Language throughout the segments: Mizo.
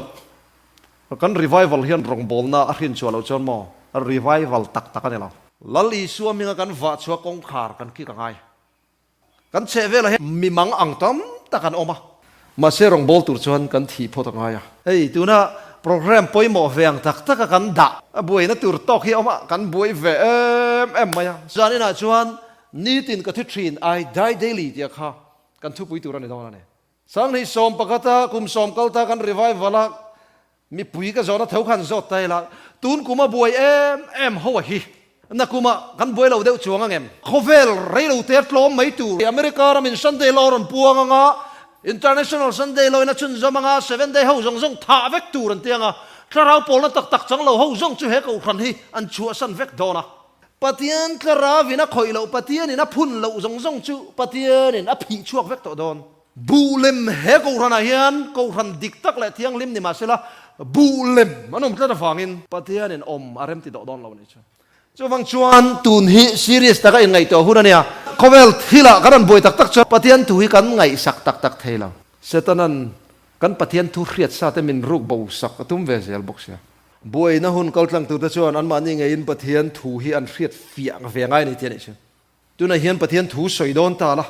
Chhuat. Kan revival hian rawngbawlna a hrinchhuah loh chuan maw? Revival tak tak a ni lo. Lal Isua minga kan vahchhuah kawngkhar kan kik a ngai. Kan chhehvelah hian mimang ang tam tak an awm a. Mahse rawngbâwl tur chuan kan thih phawt a ngai a. Hei tuna programme pawimawh veng tak tak a kan dah a buaina tur tawk hi a awm a, kan buai ve em em mai a. Zan inah chuan nitin ka thi ṭhin, I die daily tia kha kan thupui tur a ni dawn a ni. Sanghnih sawm pakhata kum sawm kal ta kan revival a mipui ka zawhna tho khan zawt ta ila tun kum a buai em em ho a hi na kum a kan buai lo deuh chuang angem? Khawvel rei lo ter tlawm mai tur America ram in Sunday law rawn puang anga International Sunday law in a chhun zawm anga Seventh day ho zawng zawng thah vek tur an ti anga thlarau pawlna tak tak chang lo ho zawng chu he Kohhran hi an chhuahsan vek dawn a Pathian tla rau in a khawih loh, Pathian in a phun loh zawng zawng chu Pathian in a phih chhuak vek tawh dawn. Buh lem, he Kohhran ah hian Kohhran dik tak leh thianghlim ni mah se la, buh lem an awm tlat avang in, Pathian in awm a rem ti doh dawn lo ni chu. Chuvang chuan tun hi serious taka in ngaih tawh hun a nia. Khawvel thil ah kan rawn buai tak tak chuan Pathian thu hi kan ngaih sak tak tak thei lo. Setana'n kan Pathian thu hriat sa te min ruk bo sak a tum ve zel bawk sia. Buaina hun kal tlangtute chuan anmahni ngeiin Pathian thu hi an hriat fiah ang ve ngai ni tih a nih che. Tunah hian Pathian thu sawi dawn ta la,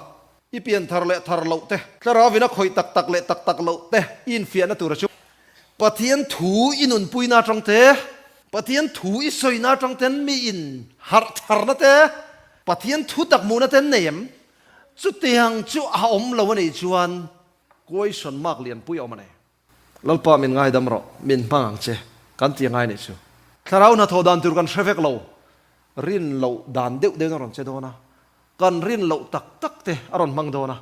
i pian thar leh thar loh te, Thlarau ina khawih tak tak leh tak tak loh te i infiahna tura chu, Pathian thu i nunpuina atang te, Pathian thu i sawina atang ten mi in harh tharna te, Pathian thu tak hmuhna ten nei em? Chutiang chu a awm lo a nih chuan kuaisawn mak lianpui a awm a nei. Lalpa min ngaidam rawh, min hmang ang che, kan ti a ngai neih chu. Thlarau hnathawh dan tur kan hre vek lo, rin loh dan deuh deuhin a rawn che dawn a, kan rin loh tak tak te a rawn hmang dawn a,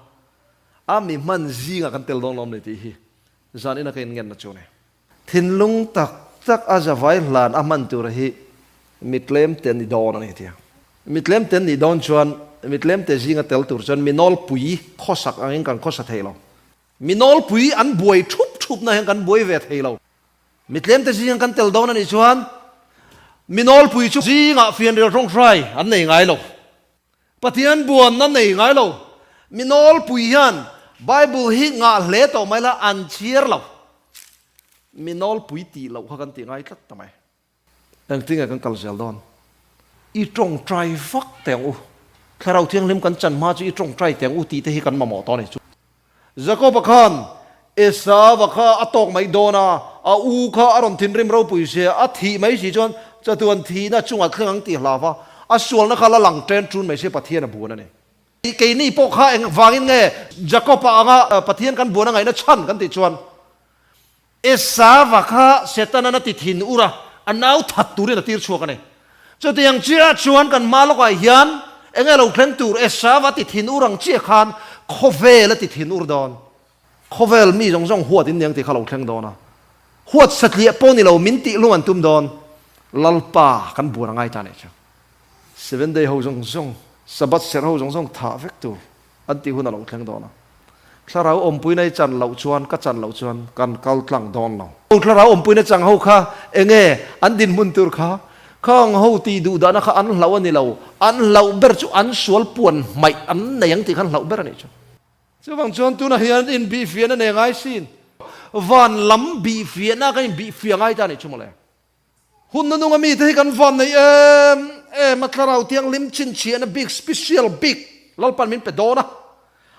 a mi hman zingah kan tel dawn lo ni tih hi zan ina ka inngenna chu ni. Thinlung tak tak a zavai hlan a hman tura hi mitlemte ni dawn a ni tih a, mitlemte nih dawn chuan mitlemte zinga tel tur chuan mi nawlpui khawsak angin kan khawsa thei lo, Mi nawlpui an buai thup thupna hian kan buai ve thei lo. Mitlemte zinga kan tel dawn a nih chuan mi nawlpui chu zingah fianrial tawng hrai an nei ngai lo. Pathian buan an nei ngai lo. Mi nawlpui hian Bible hi ngah hle tawh mai la, an chhiar lo. Mi nawlpui tih loh kha kan ti ngai tlat ta mai. Engtinge kan kal zel dawn? I tawngtai vak teng u. Thlarau Thianghlim kan chan hma chu i tawngtai teng u tihte hi kan mamawh tawh a ni chu. Jakoba khan Esava kha a tawk mai dawn a, a u kha a rawn thinrim ropui se a, a thih mai si chuan chatu an thihna chungah thleng ang ti hlav a, a sualna kha la lang chen chun mai se Pathian a buan a ni. Keini pawh kha engvangin nge Jakoba anga Pathian kan buan a ngaihna chhan kan tih chuan Esava kha Setana na ti thin ura a nau that turin a tirchhuak a ni. Chutiang chiah chuan kanmah lawkah hian eng nge lo thleng tur Esava ti thin ur ang chiah khan khawvel a ti thin ur dawn. Khawvel mi zawng zawng huat inniang tih kha lo thleng dawn a. Huat satliah pawh ni lo min tih hlum an tum dawn. Lalpa kan buar a ngai ta nih chu. Seven day ho zawng zawng, Sabbath serh ho zawng zawng thah vek tur An tih hun a lo thleng dawn a. Thlarau awmpuina i chan loh chuan ka chan loh chuan kan kal tlang dawn lo. Aw, thlarau awmpuina chang ho kha enge an dinhmun tur kha khawng ho tih duh dahna kha an hlauh a ni lo. An hlauh ber chu an sual puan hmaih an nei ang tih khan hlauh ber a nih chuan. Chuvang chuan tunah hian inbihfiahna nei ngai sin. Van lam bihfiahna ka inbihfiah ngai ta a nih chu mawle. Hun na nunga mite hi kan van nei em em a thlarau thianghlim chhinchhiahna bik special bik Lalpan min pe dawn a,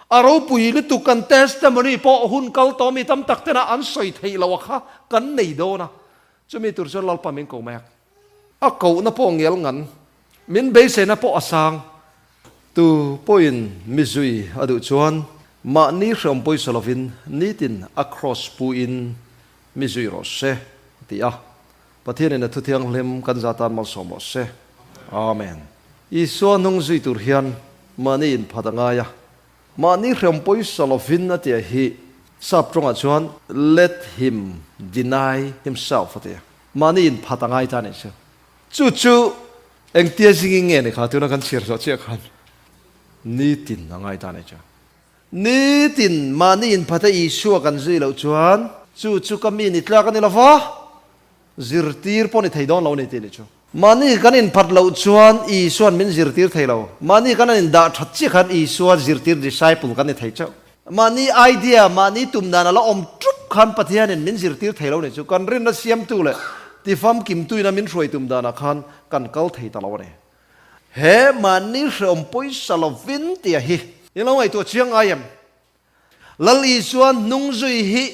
a ropui lutuk kan testimony pawh hun kal tawh mi tam tak tena an sawi theih loh a kha kan nei dawn a, chumi tur chuan Lalpan min ko mek. A kohna pawh ngelngan. Min beisena pawh a sang. Tu pawhin mizui a duh chuan mahni hreawm pawisa lovin nitin a cross puiin mizui rawh se a ti a. Pathianin a thuthianghlim kan za tan malsawm rawh se. Amen. Isua hnung zui tur hian mahni inphat a ngai a. Mahni hreawm pawisa lovin a tia hi Psalm tawngah chuan let him deny himself a ti a. Mahni inphat a ngai ta nih si. Chu chu engtia zingin nge ni kha tuna kan chhiar hlawh chiah khan nitin a ngai ta nei chuan nitin mahni in Phatha Isua kan zui loh chuan chu chu ka mi ni tlak a ni lova zirtir pawh ni thei dawn lo ni tih ni chu. Mahni kan in phat loh chuan Isuan min zirtir thei lo, mahni kan an in dah that chiah khan Isua zirtir disciple kan ni thei chauh. Mahni idea, mahni tum dan a la awm ṭup khan Pathianin min zirtir thei lo ni chu kan rinna siamtu leh ti famkimtuina min hruai tum danah khan kan kal thei ta lo a ni. He mahni hrehawm pawisa lovin tia hi in lo ngaihtuah chiang ngai em? Lal Isua hnung zui hi,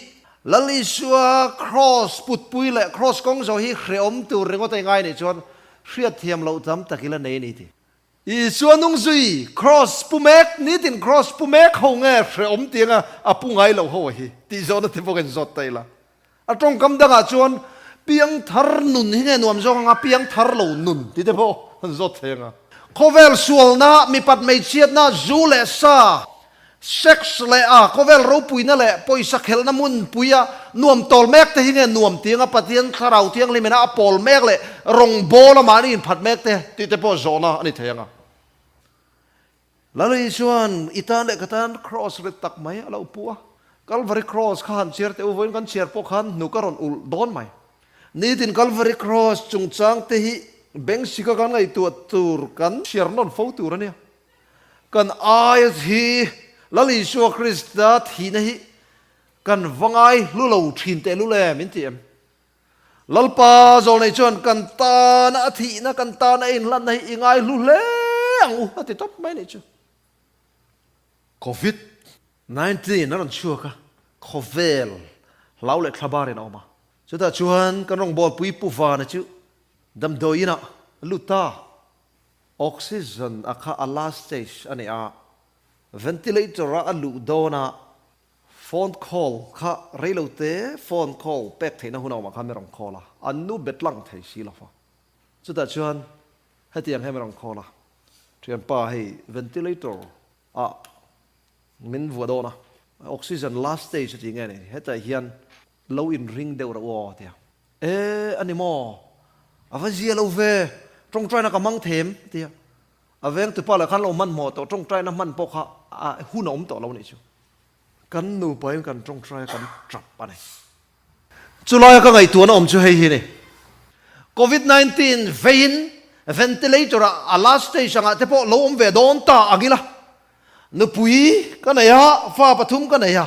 Lal Isua Kraws putpui leh Kraws kawng zo hi hrehawm tur ringawt a ingai nih chuan hriatthiam loh tam tak ila nei a ni tih I chu a nung zui, Cross pu mek, nitin Cross pu mek ho nge hrehawm tianga a pu ngai lo ho a hi, tih zawhna te pawh ka inzawt ta ila. A tawngkam dangah chuan piang thar nun hi nge nuam zawk anga piang thar lo nun tih te pawh an zawt thei anga. Khawvel sualna, mipat hmeichhiatna, zu leh sa, Sex leh a khawvel ropuina leh pawisa khelhna hmunpuia nuam tawl mek te hi nge nuam tianga Pathian Thlarau Thianghlim ina a pawl mek leh rawngbâwl a mahni inphat mek te tih te pawh zawhna a ni thei anga Lalui chuan i tan leh ka tan Kraws rit tak mai a lo pu a, Kalvari Kraws kha han chhiar teh u vawiin kan chhiar pawh khan hnu ka rawn ulh dawn mai. Nitin Kalvari Kraws chungchang te hi Bengsika kan ngaihtuah tur kan chhiar nawn fo tur a nia. Kan aia hi Lal Isua Krista thihna hi kan va ngaihlu lo thin teh lu le min ti em? Lalpa zawl nei chuan kan tana a thihna, kan tana a inhlatna hi i ngaihlu hle ang u a ti tawp mai nih chu. Covid nineteen a rawn chhuak a, khawvel hlau leh thla bar in a awm a, chutah chuan kan rawngbawlpui Pu Vane chu damdawiinah a lut ta. Oxygen a kha a last stage a ni a, ventilator a a luh dawn a, phone call kha reilo te phone call pek theihna hun a awm a kha min rawn call a, an nu be tlang thei si lo va. Chutah chuan heti ang hian min rawn call a, thianpa hei ventilator a min vuah dawn a, oxygen last stage a ti nge ni, hetah hian lo inring deuh rawh aw a ti a, E, a ni maw? A va zia lo ve, tawngtaina ka hmang thei em? a ti a. A veng tupa leh khan lo hmanhmawh tawh, tawngtaina hman pawh kha a hun a awm tawh lo nih chu. Kan nupain kan tawngtai a kan tap a ni. Chulaia ka ngaihtuah na awm chu hei hi a ni, Covid nineteen veiin ventilator ah a last stage angah te pawh lo awm ve dawn ta ang ila, nupui ka nei a, fa pathum ka nei a,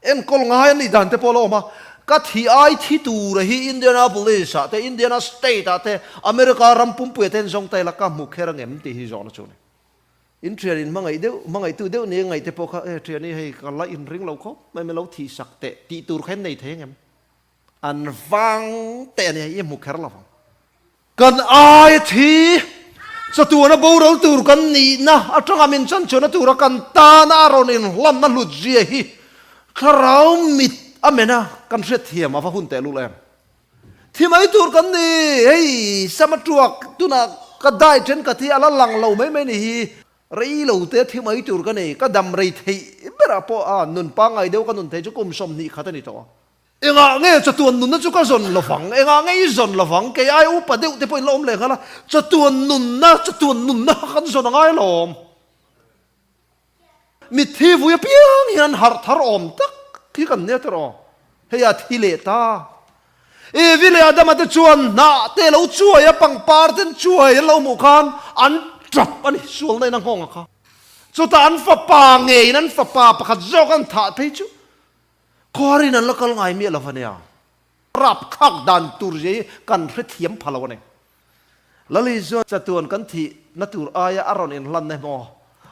Enkawl ngai an nih dan te pawh la awm a. Ka thi ai thi tura hi Indianapolis-ah te, Indiana State-ah te, America ram pumpuia te an zawng ta ila ka hmu kher ang em tih hi zawhna a chu ni. In thian in hmangaih deuh, hmangaitu deuh ni ang ngaih te pawh kha, e, thian i hei ka la inring lo khawp mai, min lo thihsak teh tih tur kha in nei thei ang em? An vang te a nia i hmu kher lovang. Kan aia thi chatuana boral tur kan nihna atanga min chanchhuahna tura kan tana a rawn inhlanna hlutzia hi thlarau mit a mena kan hrethiam a va hun tehlul em? Thi mai tur kan ni hei Sama Tuak tuna ka dai thenkhat hi a la lang lo mai mai ni hi rei lo te thi mai tur ka nei ka damrei theih berah pawh a nun pangai deuh ka nun thei chu kum sawm hnih khat a ni tawh a. Engah nge chatuan nunna chu ka zawn lovang? Engah nge i zawn lovang? Kei ai upa deuh te pawhin la awm leh nghalh a, chatuan nunna, chatuan nunna kha kan zawn a ngai alawm. Mithi vui apiang hian harh thar awm tak hi kan nia tawrh aw, hei a thi leh ta. Evi leh Adama te chuan hnah te lo chuai a, pangpar ten chuai an lo hmuh khan an tap a ni, sualna in a nghawng a kha. Chutah an fapa ngeiin an fapa pakhat zawk an thah phei chu. Khuarin an la kal ngai miah lo ania. Rap khak dan tur hi kan hrethiam pha lo a ni. Lali chuan chatuan kan thih na tur aia a rawn inhlan em aw.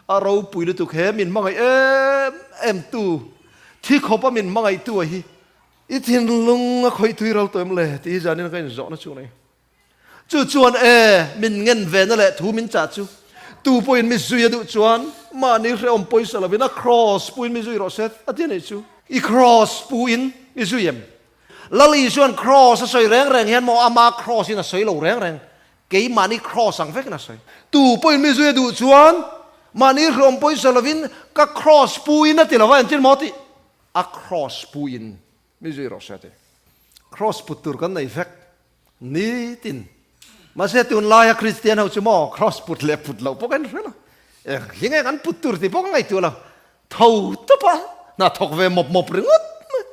A ropui lutuk he min hmangaih em em tu thi khawpa min hmangaihtu a hi. I thinlung a khawih thui raltawm le tih hi zanin ka inzawhna chu a ni. Chu chuan e, min ngen ve na leh thu min chah chu. Tu pawhin mi zui a duh chuan mahni hrehawm pawisa lovin a kraws puin mi zui rawh se a ti a nih chu. I kraws puin mi zui em? Lali chuan kraws a sawi reng reng hian maw ama kraws in a sawi lo reng reng, kei mahni kraws ang vekin a sawi. Tu pawhin mi zui a duh chuan mahni hrehawm pawisa lovin ka kraws puin a ti lova engtin maw tih? A kraws puin Mi zui rawh hriate Kraws put tur kan nei vek nitin. Mahse tunlaia Kristian ho chu maw Kraws put leh put loh pawh kan hre lo. Enghi nge kan put tur tih pawh ka ngaihtuah lo. Tho tawpa hna thawk ve mawp mawp ringawt mai.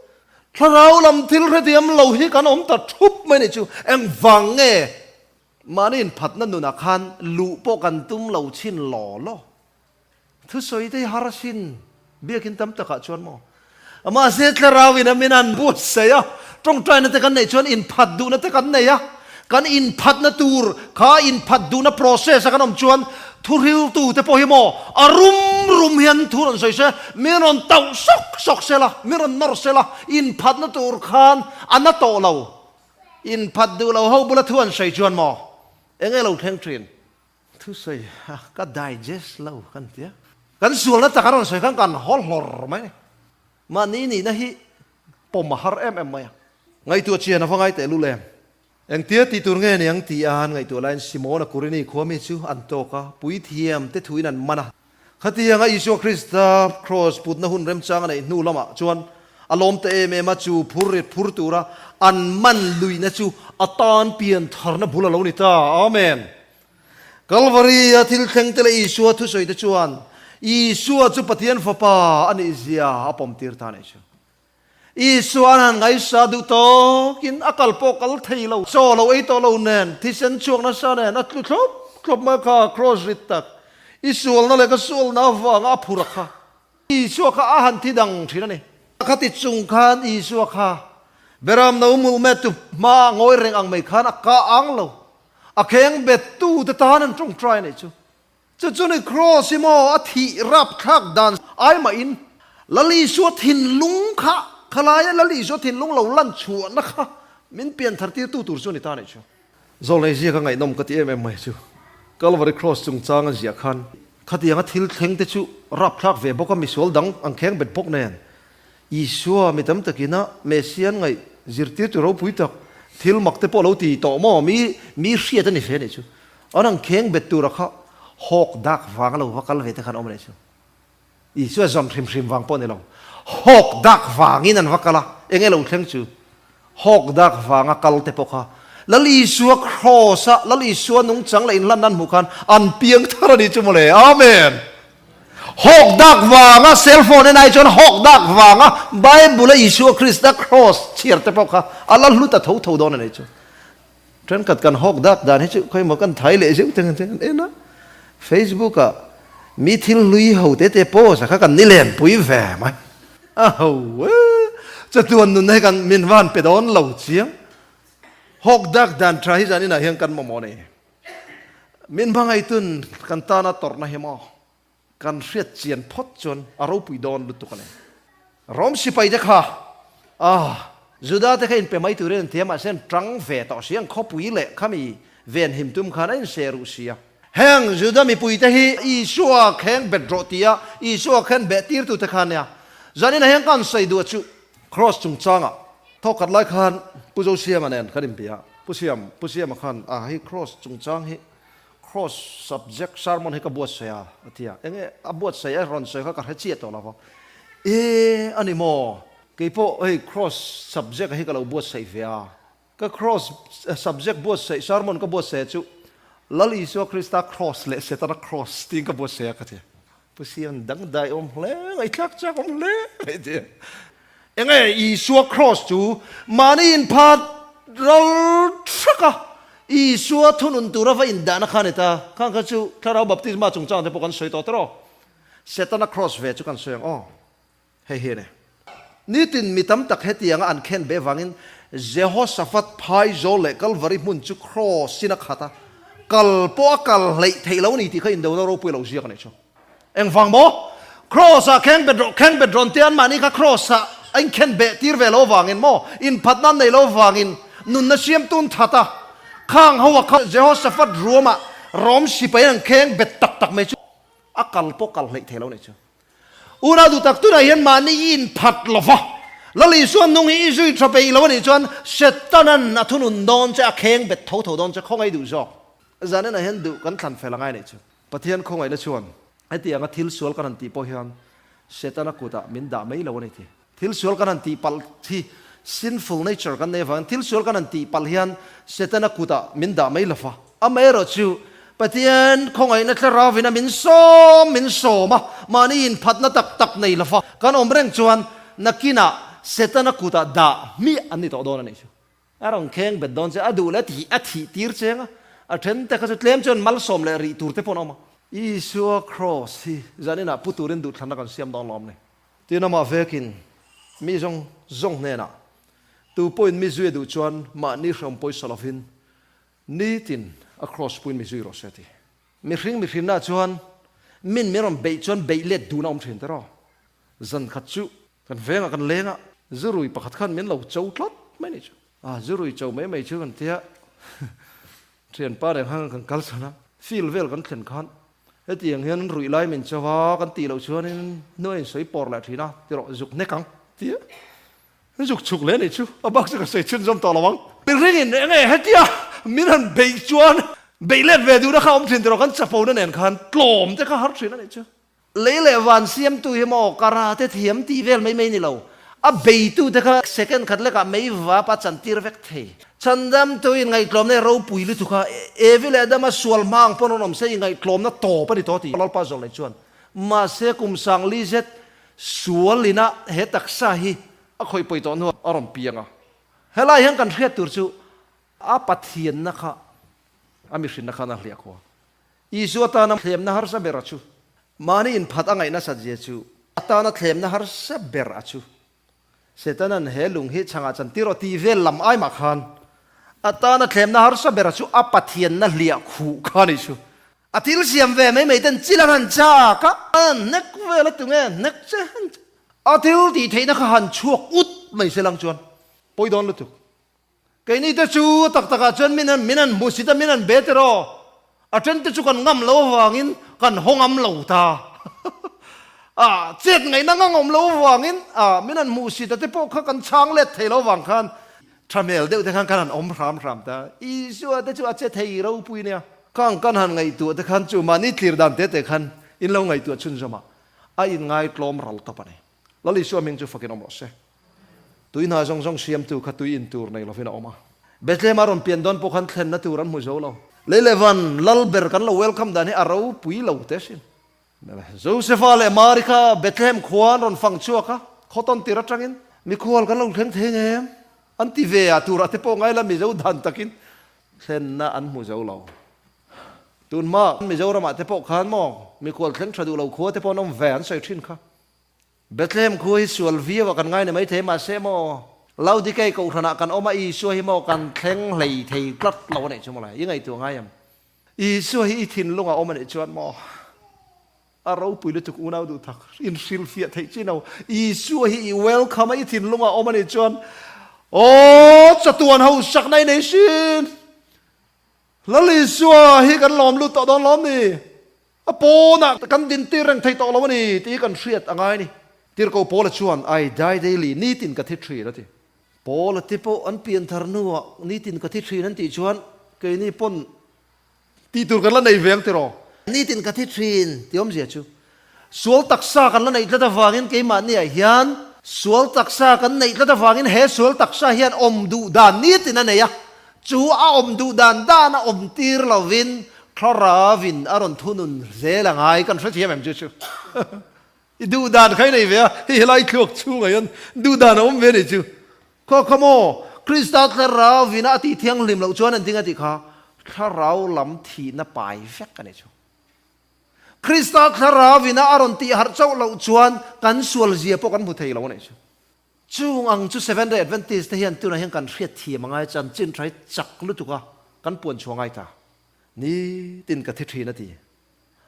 Thlarau lam thil hre diam lo hi kan awm ta thup mai nih chu engvang nge mahniin phatna nunah khan luh pawh kan tum lo chin law law. Thusawi te hi Harasin biakin tam takah chuan maw? Mahse thlarau in awmin an buatsaih a, tawngtaina te kan neih chuan inphat duhna te kan nei a, kan inphatna tur kha inphat duhna process a kan awm chuan thuhriltu te pawh hi maw a rum rum hian thu rawn sawi se, min rawn tauh sawk sawk se la, min rawn nawr se la, inphatna tur khan a na tawh lo, inphat duh lo ho bula thu an sawi chuan maw eng e lo thleng thin. Thusawi a ka digest lo kan tia. Kan sualna taka rawn sawi khan kan haw hlawr mai ani. Mahni nihna hi pawm a har em em mai a. Ngaihtuah a chian avangai teh luh lem. Engtia ti tur nge niang ti a an ngaihtuah laiin Simona Kurini khuami chu an tawk a, puithiam te thuin an man a. Khatianga Isua Krista Kraws putna hun remchang a neih hnu lamah chuan a lawm ta em em a, chu phur ret phur tura an man luihna chu a tan pian tharna bul a lo ni ta. Amen. Kalvari-a thil thlengte leh Isua thusawi te chuan Isua chu Pathian Fapa a nihzia a pawmtir ta a nih chu. Isua hian ngaisa duh tawkin a kal pawh kal thei lo, chaw lo ei tawh lo nen, thisen chhuak nasa nen a tlu thlawp thlawp mai kha kraws rit tak i sualna leh ka sualna avanga a phur a kha. Isua kha a han thi dang thin a ni. A kha ti chung khan Isua kha Beram no mul met tu hma a ngawi reng ang mai khan a kah ang lo, a kheng bet tute tan an tawngtai neih chu. Chu chu ni Kraws i maw a thih rap thlak dan si. Ai mah in Lal Isua thinlung kha kha lai a Lal Isua thinlung lo lan chhuah na kha min pian thar tir tu tur chu a ni ta nih chu. Zol hei ziak a ngaihnawm ka ti em em mai chu Calvary Kraws chung chang a ziah khan khatiang a thil thleng te chu rap thlak ve bawk a misual dang ang kheng bet bawk nen Isua mi tam takin a Messia an ngaih, Zirtirtu ropui tak, thil mak te pawh lo ti tawh maw? Mi mi hriat a ni hle nih chu an rawn kheng bet tura kha hawk dak vang lo va kal ve te khan awm leh chu. Isua zawn hrim hrim vang pawh ni lo, hawk dak vangin an va kal a, eng e lo thleng chu. Hawk dak vanga kal te pawh kha Lal Isua Kraws a, Lal Isua nung chang leh inhlan nan hmuh khan an piang thar a ni chu mawle. Amen! Hawk dak vanga cell phone e nai chuan hawk dak vanga Bible a Isua Krista Kraws chhiar te pawh kha a la hlu ta tho tho dawn a ni chu. Thenkhat kan hawk dak dan hi chu khawi maw kan thai leh zeuh teng teng an en a. Facebook ah mi thil hlui ho te te pose kha kan ni len pui ve mai. A ho e, chatuan nunna hi kan min van pe dawn lo chiang. Hawk dak dan tha hi zan inah hian kan maw maw ni? Min hmangaih tun kan tana tawrhna hi maw? Kan hriat chian phawt chuan a ropui dawn lutuk a ni. Rom sipai te kha aah, Juda te kha in pe mai tur in an thiam mahse an tang ve tawh si ang, khawpui leh khami ven him tum khan a in se ruh si a. Heng Juda mipui te hi Isua kheng bet rawh ti a, Isua khen beh tir tu te kha nia. Zan in a heng kha an sawi duh a chuh. Kraws chung chang ah thaw khat lai khan Pu Zosiama nen ka rin pe a, Pu Siam, Pu Siama khan aah, hei kraws chung chang hi Cross subject sermon hi ka buatsaih a, a ti a. Eng nge a buatsaih a rawn sawi kha ka hre chiah tawh lova. Eeh a ni maw? Kei pawh hei cross subject hi ka lo buatsaih ve a. Ka cross subject buatsaih sermon ka buatsaih a chu Lal Isua Krista cross leh Setana cross tiin ka buatsaih a ka ti. Pu Sian dangdai awm hle, ngaihtlak chak awm hle mai tia. Enge Isua Kraws chu mahni inphat ral thraka Isua thunun tura va indahna kha a ni ta. Khang kha chu Thlarau Baptisma chungchang te pawh kan sawi tawh tawh. Setana Kraws ve chu kan sawi ang aw. Hei hi a ni. Nitin mi tam tak hetianga an khen beh vangin Jehoshaphat phai zawl leh Kalvari hmun chu kraws in a khat a, kal pawh a kal hleih theih lo a ni tih kha indona ropui a lo ziak a nih chu. Engvang maw? Kraws a kheng bet rawh kheng bet rawn tia anmahni kha kraws ah a inkhen beh tir ve lo vangin maw, inphatna an nei lo vangin nunna siamtun that a khang ho a kha Jehoshaphat ruam ah rawmsi pahin an kheng bet tak tak mai chu a kal pawh kal hleih theih lo a nih chu. Unau duhtak tunah hian mahni i inphat lo va, Lal Isua nung hi i zui tha pe i lo a nih chuan Setana'n a thunun dawn che, a kheng bet tho tho dawn che, khawngaih duh zawk zaninah hian duh kan thlan fel a ngai leh chu. Pathian khawngaih na chuan hetianga thil sual kan han tih pawh hian Setana kutah min dah mai lo a ni thei. Thil sual kan han tihpalh hi sinful nature kan nei avangin thil sual kan han tihpalh hian Setana kutah min dah mai lova. Amaherawh chu, Pathian khawngaihna thlarauvin a min sawm min sawm a, mahni inphatna tak tak nei lova kan awm reng chuan nakinah Setana kutah dah hmiah an ni tawh dawn a nih chu. A rawn kheng bet dawn che, a duh leh ti hi a thih tir che ang a, a then te kha chu tlem chuan malsawm leh rih tur te pawh an awm a. Isua Kraws hi zaninah pu turin duhthlanna kan siam dawn lo awm ni? Tin amah vekin mi zawng zawng hnenah tu pawhin mi zui a duh chuan mahni hrawn pawisa lovin nitin a cross puiin mi zui rawh si a ti. Mihring mihrinah chuan min min rawn beih chuan beih let dun a awm thin tiraw? Zan khat chu kan vengah kan leng a, zu rui pakhat khan min lo cho tlat mai ni chu. A zu rui cho mai mai chu kan tia, thianpa nen khan kan kalsan a, field vel kan thlen khan Heti ang hian ruih lai min chau a, kan tih loh chuanin hnuai in sawi pawr leh thin a, tirawh zuk hnek ang tia Hi zuk chhuk leh anih chu, a bak chu ka sawi chhunzawm tawh lo ang. Min ring in eng nge hetia min han beih chuan beih let ve duhna kha awm thin tawh lo, kan chapona nen khan tlawm te kha har thin anih chu. Lei leh van siamtu hi maw karate thiam tih vel mai mai ni lo, a beitute kha second khat lekah mei vapa a chantir vek thei. Chhandam tui ngaihtlawmna i ropui lutuk kha Evi leh Adama sual hma ang pawn rawn awm se i ngaihtlawmna tawp a ni tawh a ti Lalpa Zawlei chuan. Mahse kum sang li zet sual ina he taksa hi a khawihpawih tawh hnuah a rawn piang a. Helai hian kan hriat tur chu a Pathianna kha a mihrinna khan a hliah kho a. Isu atana thlemna harsa ber a chu. Mahni inphat a ngaih nasat zia chu atana thlemna harsa ber a chu. Setana'n he lung hi chhangah chan ti rawh tih vel lam ai mah khan a tana thlemna harsa berah chu a Pathianna hliah khuh kha ni chu. A thil siam ve mai mai ten chil a han chak a, a han hnek vel a tunge an hnek che? A thil tih theihna kha han chhuak ut mai se lang chuan pawi dawn lutuk. Keini te chu a tak takah chuan min an min an hmu si ta, min an be teh rawh. A ṭen te chu kan ngam lo avangin kan haw ngam lo ta. A chet ngaihna ngang awm lo avangin a min an hmu si ta te pawh kha kan chhang let thei lo avang khan ṭha hmel deuh te khan kan han awm hram hram ta. Isua te chu a che thei ropui nia. Khang kan han ngaihtuah te khan chu mahni tlir dan tete khan in lo ngaihtuah chhun zawmah a inngaitlawm ral tawp a ni. Lal Isua hming chu fakin awm loh se. Tui hna zawng zawng siamtu kha tui in tur nei lovin a awm a. Bethlehem a rawn pian dawn pawh khan thlenna tur an hmu zo lo. Lei leh van lal ber kan lo welcome dan hi a ropui lo te sin. Josepha leh Mary kha Bethlehem khua an rawn fang chhuak a, Cotton tir atangin. Mikhual kan lo thleng thei nge em? an ti ve a, turah te pawh ngaila Mizo dan takin thlenna an hmu zo lo. Tunhma Mizoramah te pawh khan maw mikhual thleng tha duh lo khua te pawh an awm ve an sawi thin kha. Bethlehem khu hi sual viau a kan ngai ni mai thei mah se maw, Laodikei kohhran ah kan awm a Isua hi maw kan thleng hlei thei tlat lo a nih chu mawle, i ngaihtuah ngai em? Isua hi i thinlung ah a awm a nih chuan maw a ropui lutuk unau duh tak in hrilhfiah theih chin au? Isua hi i welcome a, i thinlung ah a awm a nih chuan aw chatuan ho sakna i nei sin! Lal Isua hi kan lawm lut tawh dawn lawm ni? A pawnah kan dintir reng thei tawh lo a ni tih hi kan hriat a ngai a ni. Tirhkoh Paula chuan, I die daily, nitin ka thi thin a ti. Paula te pawh an pian thar hnuah nitin ka thi thin an tih chuan keini pawn tih tur kan la nei ve ang tiraw? Nitin ka thi thin ti awmzia chu sual taksa kan la neih tlat avangin keimahniah hian sual taksa kan neih tlat avangin he sual taksa hian awm duh dan nitin a nei a, Chu a awm duh dan dan a awm tir lovin thlarau in a rawn thunun zel a ngai, kan hrethiam em chu chu. I duh dan khai nei ve a, hei helai thluak chhunga hian duh dan a awm ve nei chu. Khaw khaw maw, Krista thlarau ina a tih thianghlim loh chuan enting a tih kha, thlarau lam thihna pai vek a ni chu. Krista thlarau ina a rawn tih harh chauh loh chuan kan sual zia pawh kan hmu thei lo nei chu. Chung ang chu Seventh Day Adventist te hian tunah hian kan hriatthiam a ngai chuan chin ṭai chak lutuk a kan puan chhuah ngai ta ni tin ka thi ṭhin a ti.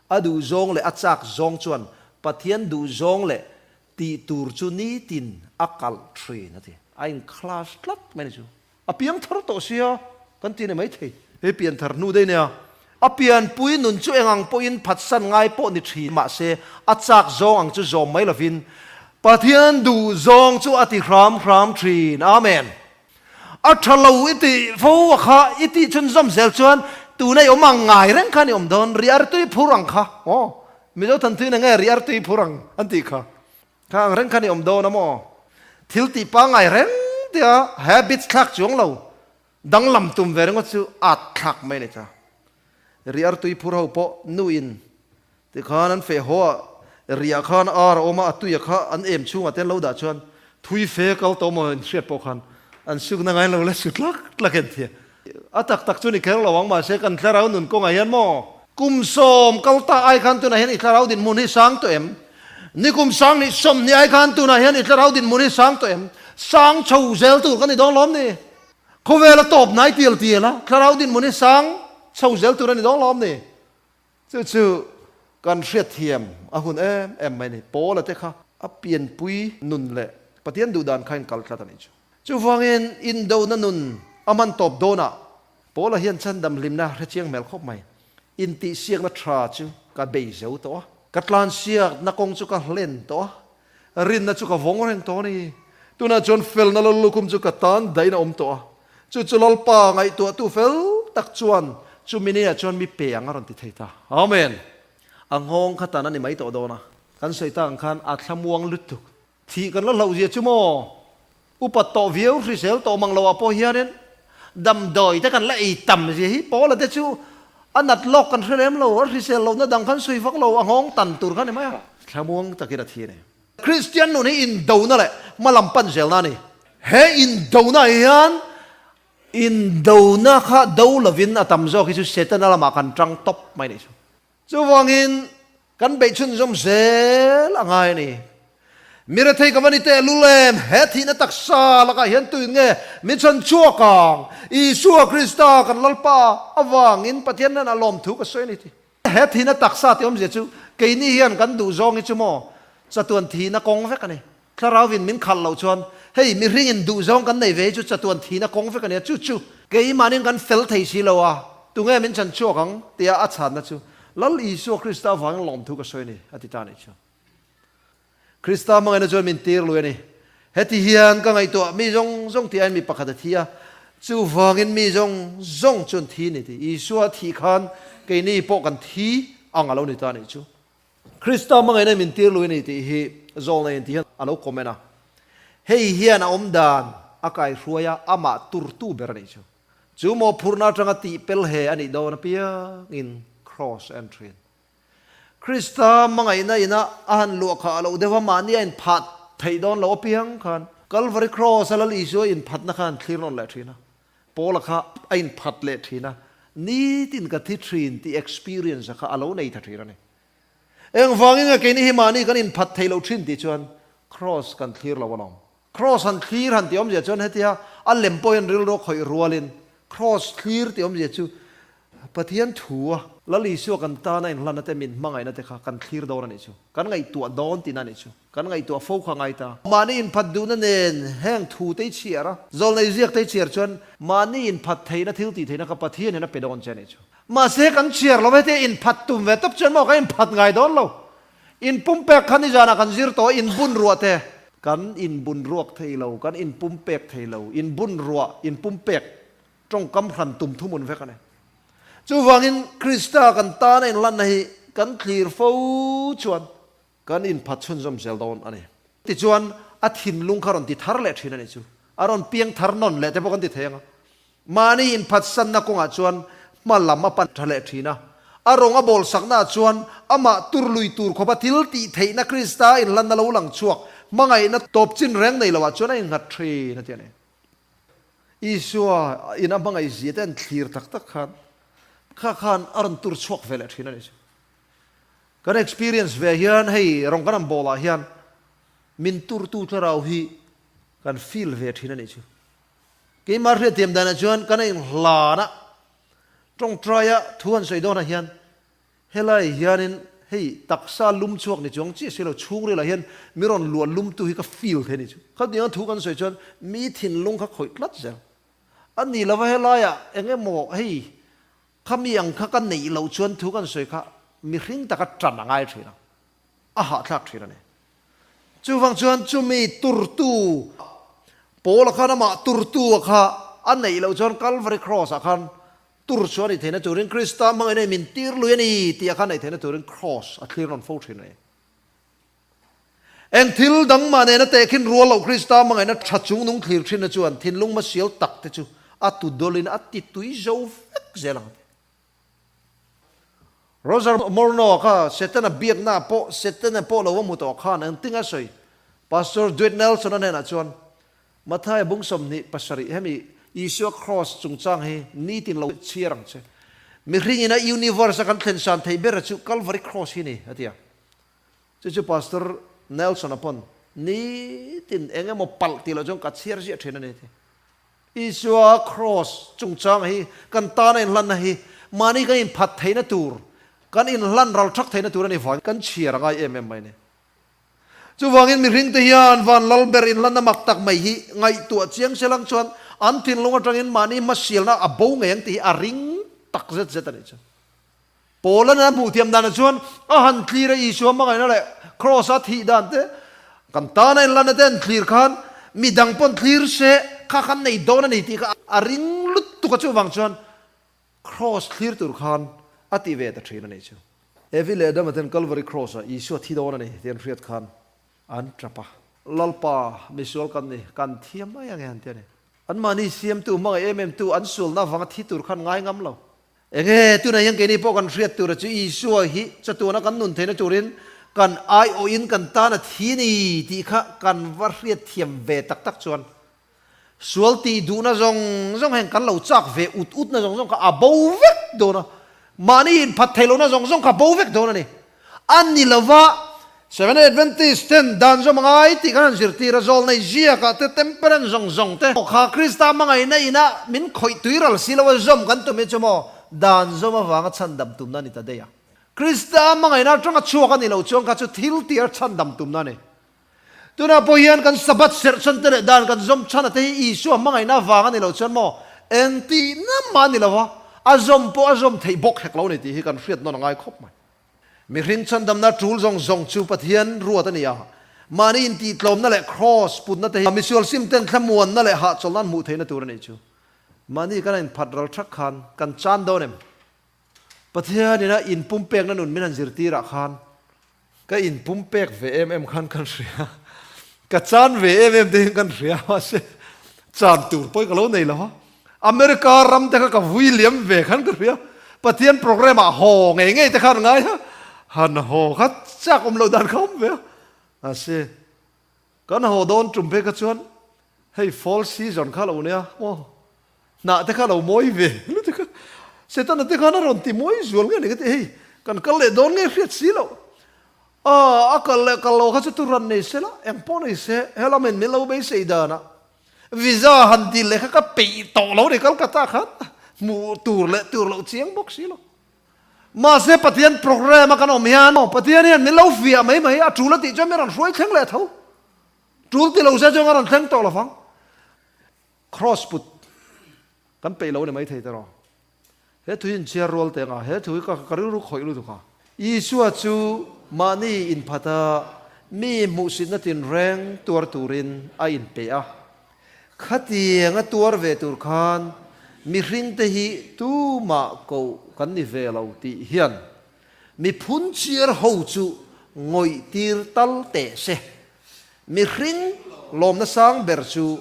A duh zawng leh a chak zawng chuan Pathian duh zawng leh tih tur chu ni tin a kalh ṭhin a ti. A inkhlas tlat mai ni chu. A piang thar tawh sia kan ti ni maithei. He pian thar hnu daih nia. A pian pui nun chu eng ang pawhin phatsan ngai pawh ni thin mahse a chak zawng ang chu zawm mai lovin Pathian duh zawng chu a ti hram hram thin. Amen. A tha lo i ti fo a kha i tih chhun zawm zel chuan tuna i awm ang ngai reng kha ni awm dawn. Riar tui phur ang kha. Aw. Mizo thanthuin ah nge riar tui phur ang an tih kha. Kha ang reng khan i awm dawn a maw? Thil tih pangngai reng tia habits thlak chuang lo danglam tum ve ringaw chu at thlak mai a ni ta. Riar tui phur ho pawh nu in ti khan an feh haw a, riah khan ar a awm a, a tuia kha an em chhungah te an lo dah chuan thui fe kal tawh maw in hriat pawh khan an sukna ngai lo la chu tlak tlak en thia. A tak tak chu ni kher lo ang mahse kan Thlarau nun kawnga hian maw? Kum sawm kal ta ai khan tunah hian i Thlarau dinhmun hi sang tawh em? Nikum sang hnih sawm hnih ai khan tunah hian i Thlarau dinhmun hi sang tawh em? Sang tho zel tur ka ni dawng hlawm ni? Khawvela tawp hnai tial tiala Thlarau dinhmun hi sang chho zel tur a ni dawng hlawm ni? Chu chu kan hriatthiam a hun em em mai ni. Paula te kha a pianpui nun leh Pathian duh dan khain kal tlat a nih chu. Chuvangin indona nun a man tawp dawnah Paula hian chandam hlimna hrechiang hmel khawp mai. Intihsiakna tha chu ka bei zo tawh a, ka tlansiakna kawng chu ka hlen tawh a, Rinna chu ka vawng reng tawh a ni. Tunah chuan felna lo lukhum chu ka tan dahin a awm tawh a. Chu chu Lalpa ngaihtuahtu fel tak chuan chu minute ah chuan mi pe ang a rawn ti thei ta. Amen! A nghawng kha tan a ni mai tawh dawn a. Kan sawi tang khan a thlamuang lutuk. Thih kan la hlauh zia chu maw? Upat tawh viau hrisel tawh mang loah pawh hianin damdawi te kan la ei tam zia hi Paula te chu a nat lawk kan hre lem lo, a hrisel lohna dang khan sawi vak lo, a nghawng tan tur khan emai a. Thlamuang takin a thi a ni. Kristian nun hi indona leh hma lam pan zelna a ni. He indonaah hian indona kha do lovin a tam zawk hi chu Setana lamah kan tang tawp mai ni thung. Chuvangin kan beih chhunzawm zel a ngai a ni. Mirethei ka va ni teh lu lem, he thihna taksa lakah hian tuin nge min chhan chhuak ang? Isua Krista kan Lalpa avangin Pathian hnenah lawm thu ka sawi a ni ti. He thihna taksa tiawmzia chu keini hian kan duhzawng hi chu maw chatuan thihna kawng vek a ni. Thlarau vin min khalh lo chuan hei mihringin duhzawng kan nei ve hi chu chatuan thin a kawng vek a nia, chu chu keimahni'n kan fel thei si lo a, tunge min chan chhuak ang? tia a chhanna chu Lal Isua Krista avangin lawm thu ka sawi a ni, a ti ta nih chuan Krista hmangaihna chuan min tir lui a ni. Heti hian ka ngaihtuah mi zawng zawng ti aiin mi pakhat a thi a, chuvangin mi zawng zawng chuan thi ni ti, Isua a thih khan keini pawh kan thi ang a lo ni ta nih chu Krista hmangaihna i min tir luih a ni tih hi Zawng la enti hian a lo comment a. Hei hian a awm dan a kai hruai a, amah turtu ber a nih chu. Chu maw phurhna atanga tihpel he a nih dawn a piangin Cross Entry-in Krista hmangaihna ina a han luah kha a lo deuh a, mahni a inphat theih dawn lo a piang khan Calvary Cross-a lal Isua inphatna khan thlir nawn leh thin a. Paula kha a inphat leh thin a, Nitin ka thi thin tih experience a kha a lo nei ta thin a ni. Engvangin nge keini hi mahni kan inphat thei lo thin tih chuan Kraws kan thlir lo alawm? Kraws han thlir han ti awmzia chuan hetia a lem pawhin rilru khawih rualin Kraws thlir ti awmzia chu Pathian thu a. Lal Isua kan tana inhlanna te min hmangaihna te kha kan thlir dawn a nih chu. Kan ngaihtuah dawn tina nih chu. Kan ngaihtuah fo kha ngai ta. Mahni inphat duhna nen heng thu te i chhiar a. Zawlnei ziak te i chhiar chuan mahni inphat theihna, thil ti theihna kha Pathian hian a pe dawn che a nih chu. Mahse he kan chhiar lo hete inphat tum ve tak chuan maw ka inphat ngai dawn lo. In pumpek khan i zanah kan zir tawh a, in bun ruah te. Kan in bun ruak thei lo, kan in pumpek thei lo. In bun ruah, in pumpek tawngkam hran tum thumun vek a ni. Chuvangin Krista kan tana inlanna hi kan tlir fo chuan kan inphat chhunzawm zel dawn a ni. Tichuan, a thinlung kha rawn ti thar leh thin a nih chu. A rawn piang thar nawn leh te pawh kan ti thei ang a. Mahni inphatsanna kawngah chuan hma lam a pan tha leh thin a. A rawng a bawlsaknaah chuan amah turlui tur khawpa thil tih theihna Krista inhlanna lo lang chhuak hmangaihna tawp chin reng nei loah chuan a inghat thin a ti a ni. Isua in a hmangaih zia te an thlir tak tak khan kha khan a rawn tur chhuak ve leh thin a ni chu. Kan experience ve hian hei rawn kan awm bawl ah hian min tur tu thlarau hi kan feel ve thin a ni chu. Keimah hriattiam dan ah chuan kan a in hlan a tawngtai a thu han sawi dawn ah hian Helai hianin hei taksa lum chhuak ni chuang chiah silo chhungrel ah hian mi rawn luah lum tu hi ka feel thei a ni chu. Khatiang thu kan sawi chuan mi thinlung kha khawih tlat zel a ni lova helai ah eng emaw hei khami ang kha ka neih loh chuan thu kan sawi kha mihring taka tan a ngai thin a, a hahthlak thin a ni. Chuvang chuan chumi turtu pawl ah khan amah turtu ah kha a neih loh chuan Calvary Cross ah khan Tur chu a ni theihna turin Krista hmangaihna i min tir lui a ni tih a kha naih theihna turin Kraws a thlir rawn fo thin a ni. Eng thil dang mah nena teh khin rual loh Krista hmangaihna tha chung nung thlir thinna chuan thinlung hmasial tak te chu a tu dawlin a ti tui zo vek zel ang te. Roger Morneau kha Setana biaknaah pawh Setana pawh lo va hmu tawh khan engtinga sawi? Pastor Dwight Nelson-a hnenah chuan Mathaia bung sawmhnih pasarih hemi Isua Kraws chungchang hi nitin lo chhiar ang che. Mihringin a universe a kan thlensan theih bera chu Calvary Kraws hi ni a ti a. Chu chu Pastor Nelson a pawn nitin eng emaw palh ti loh chuan ka chhiar ziah thin a ni a ti. Isua Kraws chungchang hi kan tana inhlanna hi mahni kan inphat theihna tur, kan inhlan ralchak theihna tur a ni vangin kan chhiar a ngai em em mai a ni. Chuvangin mihring te hian van lal ber inhlan a mak tak mai hi ngaihtuah chiang sia lang chuan an thinlung atangin mahni hmasialna a bo ngei ang tih hi a ring tak zet zet a nih chuan. Poland a hmuh thiam danah chuan a han tlir a Isua hmangaihna leh Kraws a thih dan te, kan tana inhlanna te an tlir khan mi dang pawn tlir se kha khan nei dawn a ni tih kha a ring lut tuk a chuvang chuan Kraws thlir tur khan a tih ve ta thin a nih chu. Evi leh Dama ten Calvary Kraws ah Isua thi dawn a ni tian hriat khan an tap a. Lalpa, misual kan ni, kan thiam mai ang e han ti a ni. Anmahni siamtu hmangaih em em tu an sualnak avanga thi tur khan ngai ngam lo. Enge tunah hian keini pawh kan hriat tura chu Isua hi chatuana kan nun theihna turin kan aiawhin kan tana thi a ni tih kha kan va hriat thiam ve tak tak chuan Sual tih duhna zawng zawng heng kan lo chak ve, ut utna zawng zawng kha a bo vek dawn a, mahni in phat thei lohna zawng zawng kha bo vek dawn a ni. A ni lo va, Seventh-day Adventist ten dan zawm a ngai tih kan han zirtir a, zawlnei ziakah te, temperance zawng zawng te pawh kha Krista hmangaihna ina min khawih tui ral si lo a, zawm kan tum hi chu maw dan zawm avanga chhandam tumna a ni ta daih a. Krista hmangaihna atanga chhuak a ni lo chuan kha chu thil tihar chhandam tumna a ni. Tunah pawh hian kan Sabbath serhchante leh dan kan zawm chhana te hi Isua hmangaihna avang a ni lo chuan maw? Engtihnanmah a ni lo a, a zawm pawh a zawm theih bawk hek lo a ni tih hi kan hriat nawn a ngai khawp mai. Mihring chhandamna tul zawng zawng chu Pathian ruat a ni a, mahni intihtlawmna leh Kraws putna te hi misual sim ten thlamuanna leh hahchawlhna an hmuh theihna tur a nih chu. Mahni kan a inphat ral ṭhak khan kan chan dawn em? Pathian ina in pumpekna nun min han zirtirah khan ka in pumpek ve em em khan kan hria, ka chan ve em em te hi kan hria, mahse chan tur pawhin ka lo nei lo a, America ram te kha ka vui liam ve khan ka hria, Pathian program ah haw ngei ngei te khan ngaia han haw khat chak awm loh dan kha awm ve a, mahse. Kan haw dawn tum phe kha chuan hei fall season kha lo nia maw hnah te kha lo mawi ve lutuk kha setana te khan a rawn ti mawi zual nge ni ka ti hei kan kal leh dawn nge hriat si lo a a kal leh kal lo kha chu tu ran nei sela eng pawh nei se hela men min lo beisei dan a visa han dil leh kha ka peih tawh lo ni Kolkata khan hmuh tur leh tur loh chiang bawk si lo. Mahse Pathian program a kan awm hian Pathian hian min lo fiah mai mai, a tul a tih chuan min rawn hruai thleng leh tho. Tul ti lo sia chuan kan rawn thleng tawh lo vang. Cross put kan peih lo ni maithei teh rawh. He thui inchhiar rual teh anga he thui ka rilru khawih lut anga. Isua chu mahni inphata mi hmuhsitna tinreng tuar turin a inpeih a. Khatiang a tuar ve tur khan mihring te hi tumah koh kan ni ve lo tih hian miphun chiar ho chu ngawihtir tal teh se. Mihring lawmna sang ber chu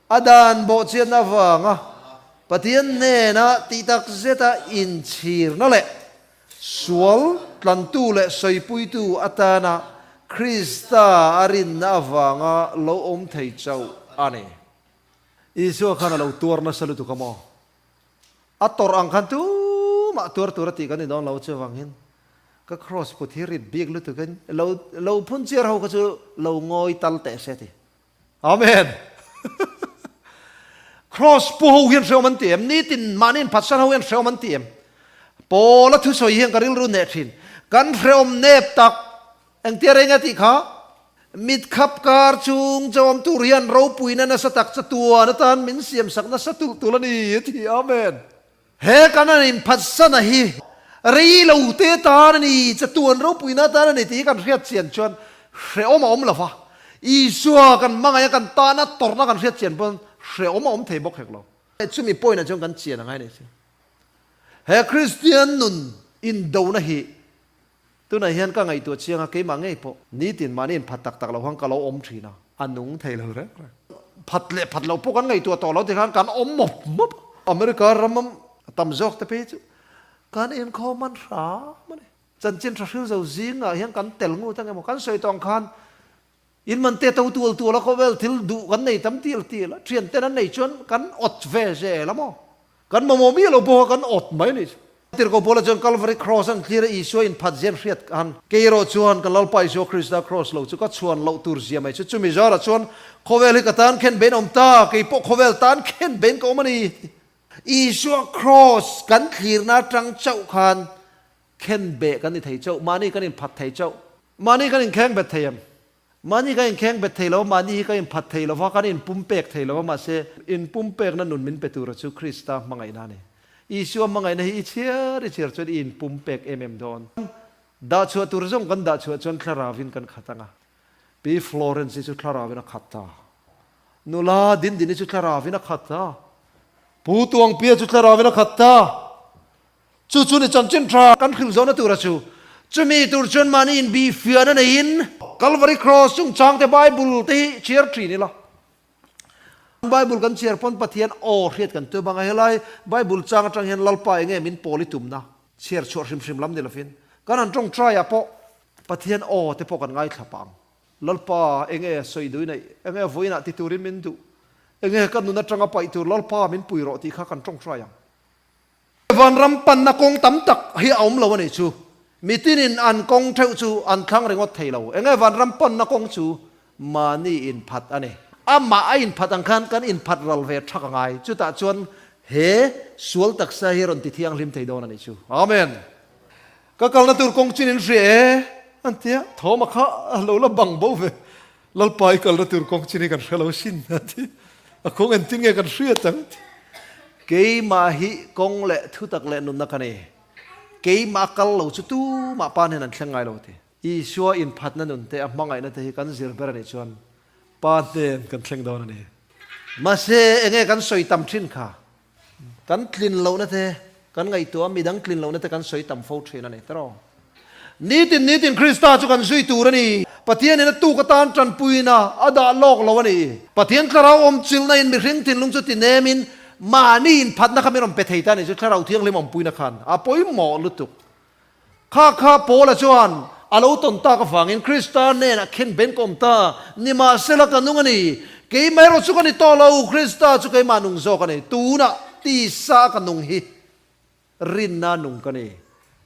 a dan bawhchian avanga Pathian hnena tihtak zeta inchhirna leh Sual tlantu leh sawipuitu atana Krista a rinna avanga lo awm thei chauh a ni. Isua khan a lo tuar nasa lutuk a maw? A tawrh ang khan tumah tuar tura tih kan ti dawn lo chuvangin ka Kraws put hi rip bik lutukin lo phun chiar ho kha chu lo ngawi tal teh se ti. Amen! Cross pu ho hian hreawm an ti em? Nitin mahniin pharsal ho hian hreawm an ti em? Paula thusawi hian ka rilru neh thin. Kan hreawm nep tak. Engtia rei anga tih kha, mitkhap kar chhung chawm tur hian ropuina nasa tak chatuan atan min siamsak nasa tulh tul a ni a ti. Amen! He kan rawn inphat sana hi rei lo te tan a ni, chatuan ropuiin atan a ni tih hi kan hriatchian chuan hrehawm a awm lo va, Isua kan hmangaia kan tahna tawrhna kan hriatchian pawn hrehawm a awm thei bawk hek lo. Chumi point-ah chuan kan chian a ngai nei che. He Kristian nun indona hi Tunah hian ka ngaihtuah chiang a, keimah ngei pawh nitin mahni in phat tak tak lohang ka lo awm thin a, a nung thei lo reng reng. Phat leh phat loh pawh kan ngaihtuah tawh lo tikhan kan awm mawp mawp a, America ram tam zawk te phei chu kan inkhawm man hram a ni. Chanchin tha hrilzo zingah hian kan tel ngut ang emaw, kan sawi tawng khan In man te to tual tual a khawvel thil duh kan nei tam til til a, thian ten an nei chuan kan awt ve zel a maw? Kan mamawh miah lo pawh kha kan awt mai a nih chu. Tirhkoh pawl a chuan Calvary Cross an thlir a Isua in phat zian hriat ka han, keirawh chuan ka Lalpa Isua Krista Cross lo chu ka chhuan loh tur zia mai chu chumi zar ah chuan khawvel hi ka tan khen bein a awm ta, kei pawh khawvel tan khen bein ka awm a ni. Isua Cross kan thlirna atang chauh khan khen beh kan ni thei chauh, mahni kan inphat thei chauh, mahni kan inkheng bet thei em, mahni kan inkheng bet thei lo, mahni hi kan inphat thei lo a, kan inpumpek thei lo a, mahse, inpumpekna nun min pe tura chu Krista hmangaihna a ni. Isua hmangaihna hi i chhiar i chhiar chuan i inpumpek em em dawn. Dah chhuah tur zawng kan dah chhuah chuan thlarauin kan khat anga, Pi Florence hi chu thlarauin a khat ta, Nula Dindin hi chu thlarauin a khat ta, Pu Tuangpia chu thlarauin a khat ta, Chu chu ni chanchin tha kan hrilh zona tur a chu. Chumi tur chuan mahni in bih fiah na neiin. Calvary Cross chungchang te Bible te hi chhiar thin ila. Bible kan chhiar pawn Pathian aw hriat kan tuah bang a. Helai Bible chang atang hian Lalpa enge min pawl i tumna chhiar chhuah hrim hrim lam ni lovin kan han tawng try ah pawh Pathian aw te pawh kan ngaithlap ang. Lalpa enge sawi dui neih, enge vawi inah ti turin min duh, enge ka nun atanga paih tur Lalpa min pui rawh tih kha kan tawng try ang. Vanram panna kawng tam tak hi a awm lo a nih chu, mitin in an kawng theuh chu an thlang ringawt thei lo. Eng nge vanram panna kawng chu mahni inphat a ni. Amah a inphat ang khan kan inphat ral ve thak a ngai. Chutah chuan he sual taksa hi rawn ti thianghlim thei dawn a nih chu. Amen. Ka kalna tur kawng chin in hria e, an tia. Thawma kha a lo la bang bo ve. Lalpa i kalna tur kawng chin hi kan hre lo sin a ti. A kawng entin nge kan hriat ang a ti. Keimah hi kawng leh thutak leh nunna ka nei. Keimah a kal lo chu tumah pa nen an thleng ngai lo a ti. Isua inphatna nun te a hmangaihna te hi kan zir ber a nih chuan pa hnen kan thleng dawn a ni. Mahse enge kan sawi tam thin kha? Kan tlin lohna te, kan ngaihtuah a midang tlin lohna te kan sawi tam fo thin a ni. Tiraw? Nitin nitin Krista chu kan zui tur a ni. Pathian in a tuk atan tanpuina a dah lawk lo a ni. Pathian thlarau awmchilhna in mihring thinlung chu ti nem in mahni inphatna kha min rawn pe thei ta nih chu Thlarau Thianghlim awmpuina khan a pawimawh lutuk Khakha Paula chuan a lo tawn tak avangin Krista nen a khen benkhawm ta. Nimahsela, ka nung a ni. Keimaherawh chu ka ni tawh lo. Krista chu keimah nung zawk a ni. Tunah, tisa ka nung hi rinna nung ka ni.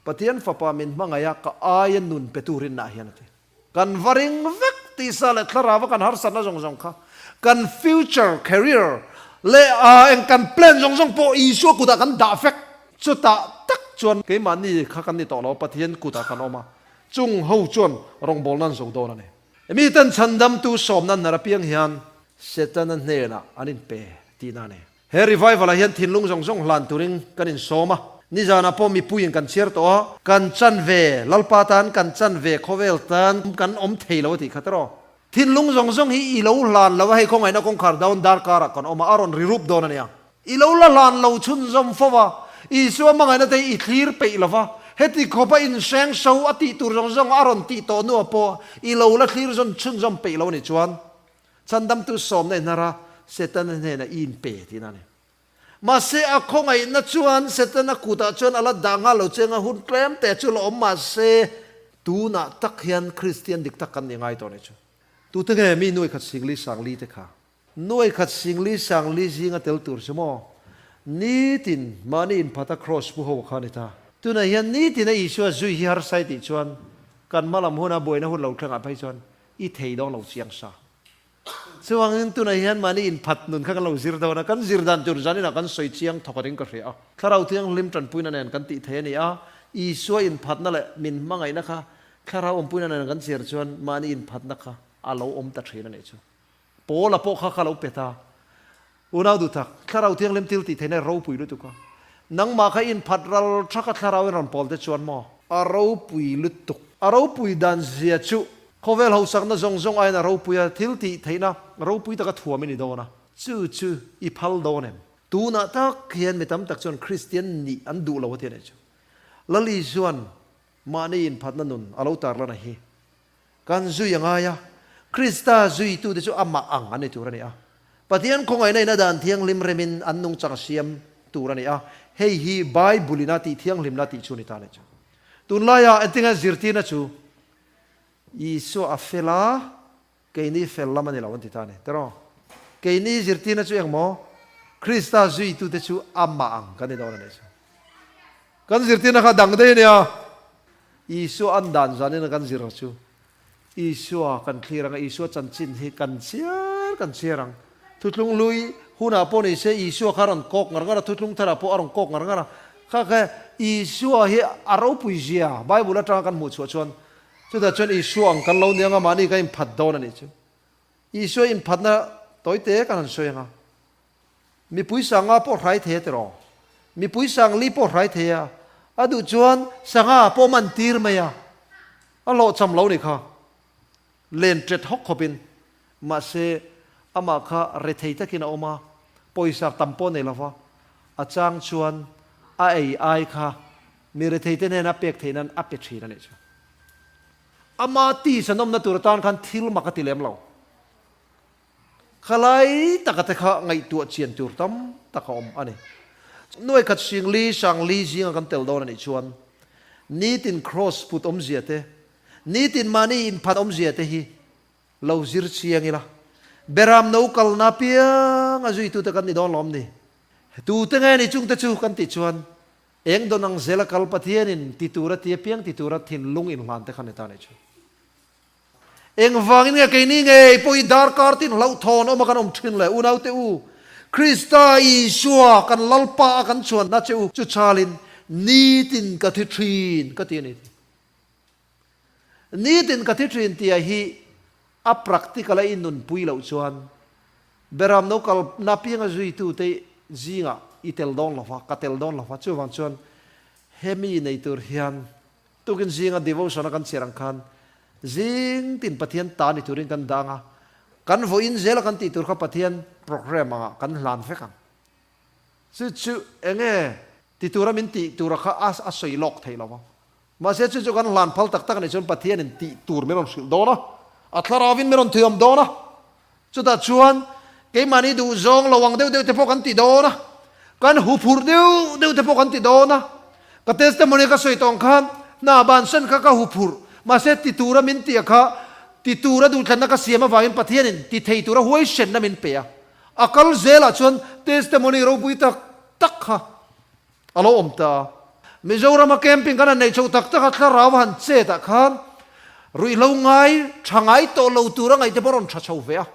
Pathian Fapa min hmangaih a ka aia nun pe tu rinna hian a ti. Kan va ring vek tisa leh thlarava kan harsatna zawng zawng kha, kan future, career, leh eng kan plan zawng zawng pawh Isua kutah kan dah vek. Chutah tak chuan keimahni kha kan ni tawh lo, Pathian kutah kan awm a, chung ho chuan rawngbawlna an zoh dawn a ni. Miten chhandamtu sawmna hnara piang hian Setana hnenah an inpe tihna a ni. He Revival-ah hian thinlung zawng zawng hlan turin kan insawm a, nizanah pawh mipuiin kan chhiar tawh a, kan chan ve, Lalpa tan kan chan ve, khawvel tan kan awm thei lo tih kha tiraw. Thinlung zawng zawng hi i lo hlan lo a, hei khawngaihna kawngkhar dawn darkarah kan awm a, a rawn rirup dawn a nia. I lo la hlan lo chhunzawm fo va, Isua hmangaihna te hi i thlir peih lo va, heti khawpa inhreng hro a tih tur zawng zawng a rawn tih tawh hnuah pawh i lo la thlir zawn chhunzawm peih lo a nih chuan, Chhandamtu sawmna i hnar a, Setana hnena i inpe tiin a ni. Mahse, a khawngaihna chuan Setana kutah chuan a la dah nghal lo che nga hun tlemte chu la awm mahse, tunah tak hian Kristian dik tak kan ni ngai tawh ni chu. Tute nge mi nuai khat singli sangli te kha nuai khat singli sangli zinga tel tur si maw? Nitin mahni inphata Kraws pu ho kha a ni ta. Tunah hian nitina Isua zui hi harsai tih chuan kan hmalam huna buaina hun lo thlengah phei chuan I thei dawn lo chiang sa. Chuangin tunah hian mahni inphat nun kha kan lo zir dawn a, kan zir dan tur zaninah kan sawi chiang thawk atin ka hria a. Thlarau Thianghlim tanpuina nen kan tih thei a ni a, Isua inphatna leh min hmangaihna kha thlarau awmpuina nen kan chhiar chuan mahni inphatna kha a lo awm ta thin a nih chu. Paula pawh kha ka lo pet a, Unaudu tak, Thlarau Thianghlim thil tih theihna i ropui lutuk a, nangmah kha inphat ral tha kha Thlarauin rawn pawl te chuan maw? A ropui lutuk. A ropui dan zia chu khawvel hausakna zawng zawng aiin a ropui a, thil tih theihna ropui taka thuam i ni dawn a, chu chu i phal dawn em? Tunah tak hian mi tam tak chuan Kristian nih an duh lo a ti a nih chu. Lali chuan mahni inphatna nun a lo tarlana hi Kan zui a ngai a, Krista zuitute chu amah ang an ni tur a ni a. Pathian khawngaihna ina dan thianghlim remin an nung chang siam tur a ni a, hei hi Bible ina tih thianghlimna tih chu a ni ta leh chuan. Tun laiah engtinngain zirtirna chu Isua a fel a, keini fel lam a ni lo an ti ta a ni. Tiraw? Keini zirtirna chu engmaw? Krista zuitute chu amah ang kan ni dawn a nih chu. Kan zirtirna kha dang daih a nia, Isua an dan zuan in a kan zir chu Isua kan thlir ang a, Isua chanchin hi kan chhiar kan chhiar ang. Thutlung lui hunah pawh ni se Isua kha a rawn kawk ngar ngar a, thutlung tharah pawh a rawn kawk ngar ngar a. Kha khe Isua hi a ropui zia Bible atanga kan hmuh chhuah chuan chutah chuan Isua ang kan lo ni ang a, mahni ka inphat dawn a nih chu. Isua inphatna tawite ka rawn sawi ang a. Mipui sanga pawh hrai thei a ti rawh. Mipui sang li pawh hrai thei a, a duh chuan sanga pawh awm an tir mai a, a hlawh cham lo ni kha. Len tet hawk khawp in. Mahse, amah kha rethei takin a awm a, pawisa tam pawh nei lova, a chang chuan a ei ai kha mi rethei te hnena pek theinan a pe thin a nih chu. Ama tisanawmna tur atan khan thil mak a ti lem lo. Khalai taka te kha ngaihtuah chian tur tam tak a awm a ni. Nuai khat hring li, sang li zinga kan tel dawn a nih chuan nitin kraws put awmzia te, nitin mahni inphan awmzia te hi lo zir chiang ila, Beram no kalna piang a zuitu te kan ni dawn lo awm ni? Tu te nge ni chungte chu kan tih chuan eng dawn ang zela kal Pathianin ti tura ti apiang ti tura thinlung inhlan te khan heta a nih chu. Engvangin nge keini ngei pawh hi darkar tin hlauhthawn awma kan awm thin le? Unaute u Krista Isua kan Lalpa a kan chhuanna che u, chuchalin nitin ka thi thin ka ti a ni. Nitin ka thi thin tia hi a practical a innunpui loh chuan Behram no kal napianga zuitute zingah i tel dawn lo va, ka tel dawn lo va, chuvang chuan hemi nei tur hian Tukin zinga devotion-a kan chhiar ang khan zing tin Pathian ta ni turin kan dang a, kan vawi in zel a kan tih tur kha Pathian program angah kan hlan vek ang. Chu chu eng nge ti tura min tih tura kha a a sawi lawk thei lo a. Mahse chu chu kan hlan phal tak tak nih chuan Pathianin tih tur min rawn hrilh dawn a, a thlarau in min rawn thuiawm dawn a, Chutah chuan keimahni duh zawng lo ang deuh deuh te pawh kan ti dawn a, kan hu phur deuh deuh te pawh kan ti dawn a. Ka testimony ka sawi tawng khan hna ban sawn kha ka hu phur, mahse ti tura min tih a kha ti tura duhthlanna ka siam avangin Pathianin ti thei tura huaihrenna min pe a. A kal zelah chuan testimony ropui tak tak kha a lo awm ta a. Mizorama camping kan han nei chho tak tak a, Thlarau a han chet ah khan ruihhlo ngai tha ngai tawh lo tur a ngaih te pawh a rawn tha chho ve a,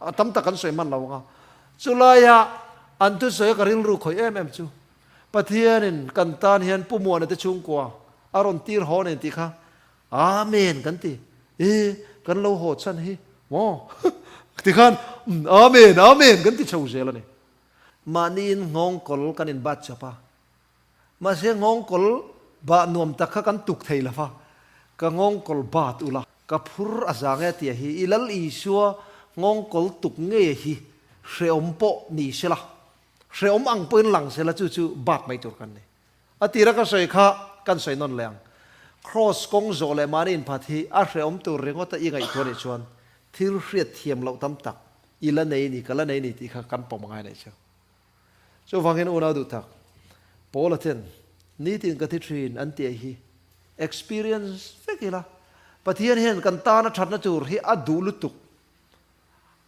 a tam tak kan sawi hman lo ang a. Chu lai ah an thu sawi a ka rilru khawih em em chu. Pathian in kan tan hian Pu Muana te chhungkua a rawn tir haw nen tih kha Amen kan ti, e kan lo haw chhan hi maw ti khan Amen Amen kan ti chho zel a ni. Mahniin nghawng kawl kan inbat chap a, mahse nghawng kawl bah nuam tak kha kan tuk thei lo a, ka nghawng kawl bat ula ka phur a za nge tia hi i lal Isua nghawng kawl tuk nge hi hrehawm pawh ni sela, hrehawm ang pawhin lang sela chu chu bat mai tur kan ni. A tira ka sawi kha kan sawi nawn leh ang. Kraws kawng zawh leh mahni inphat hi a hrehawm tur ringawta i ngaihtuah nih chuan thil hriat thiam loh tam tak i la nei ni ka la nei ni tih kha kan pawm a ngai leh che. Chuvangin unau duhtak Paula ten nitin ka ti thin an tih hi experience vek ila Pathian hian kan tana thatna tur hi a duh lutuk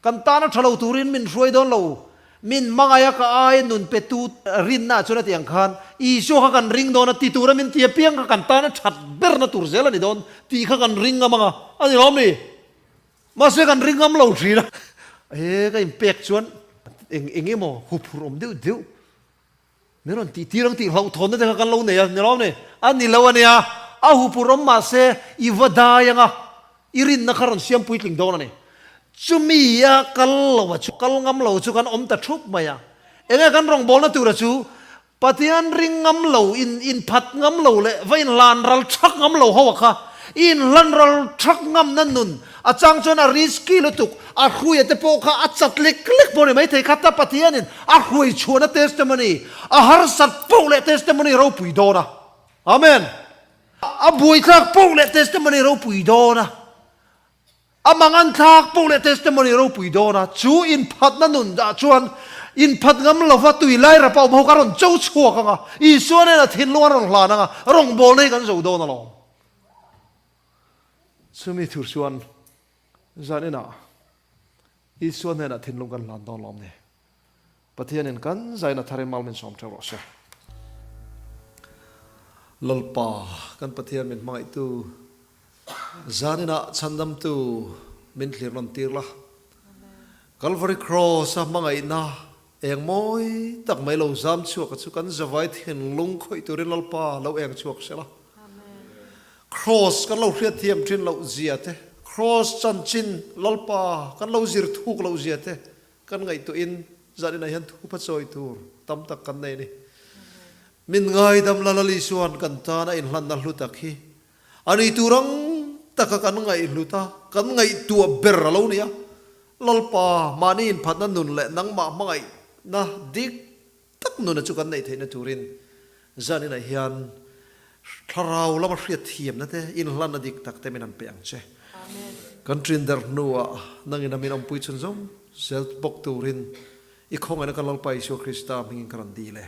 Kan tana tha lo turin min hruai dawn lo. Min hmangaih a ka aia nun petu rinna chuan hetiang khan, Isua kha kan ring dawn a ti tura min ti apiang kha kan tana that berna tur zel a ni dawn tih kha kan ring ngam ang a, a ni lawm ni? Mahse kan ring ngam lo thin a. He ka inpek chuan eng eng emaw huphurh awm deuh deuh Min rawn tih tir ang tih hlauhthawn na te kha kan lo nei a, ni lo ne? A ni lo a nia, a hupur awm mah se i va dai anga i rinna kha rawn siam puitling dawn a ni. Chumi a kal lo a chu, kal ngam lo chu kan awm ta thup mai a. Eng nge kan rawngbawlna tura chu Pathian ring ngam lo, in inphat ngam lo leh va inhlan ral thak ngam lo ho a kha i inhlan ral thak ngamna nun, A chang chuan a risky lutuk, a hruaia te pawh kha a chat lek lek pawh a ni. Maithei kha tap a thianin a hruai chhuahna testimony, a harsat poh leh testimony ropui dawn a. Amen! A buaithlak poh leh testimony ropui dawn a, a manganthlak poh leh testimony ropui dawn a. Chu inphatna nun dah chuan inphat ngam lova tui lai rapa awm ho kha a rawn cho chhuak ang a, Isua nena thinlung a rawn hlan ang a, a rawngbawlna hi kan zoh dawn alawm. Chumi thur chuan zan inah Isua hnenah thinlung kan hlan dawn lo awm ni. Pathianin kan zaina thar i mal min sawm ṭheuh rawh se. Lawlpa kan Pathian min hmangaihtu, zan inah chhandamtu min hlir rawn tir la. Calvary Cross-a hmangaihna. Eng mawi tak mai lo zam chhuaka chu kan zavai thinlung khawih turin Lalpa lo eng chhuak hrela. Kraws kan lo hriatthiam thin loh zia te, Kraws chanchin Lalpa kan lo zir thuk loh zia te kan ngaihtuahin zaninah hian thup a chawi tur tam tak kan nei a ni. Min ngaidam Lalal Isuan kan tan a inhlanna hlu tak hi A ni tur ang taka kan ngaihlut a, kan ngaihtuah ber a lo ni a. Lalpa, mahni inphatna nun leh nangmah hmangaihna dik tak nuna chu kan neih theihna turin zaninah hian Thlarau lama hriatthiamna te, inhlanna dik tak te min han pe ang che. Kan trinderh hnuah nang ina min awmpui chhun zawng zel bawk turin i khawngaihna ka Lalpa Isua Krista hmingin ka rawn dil e.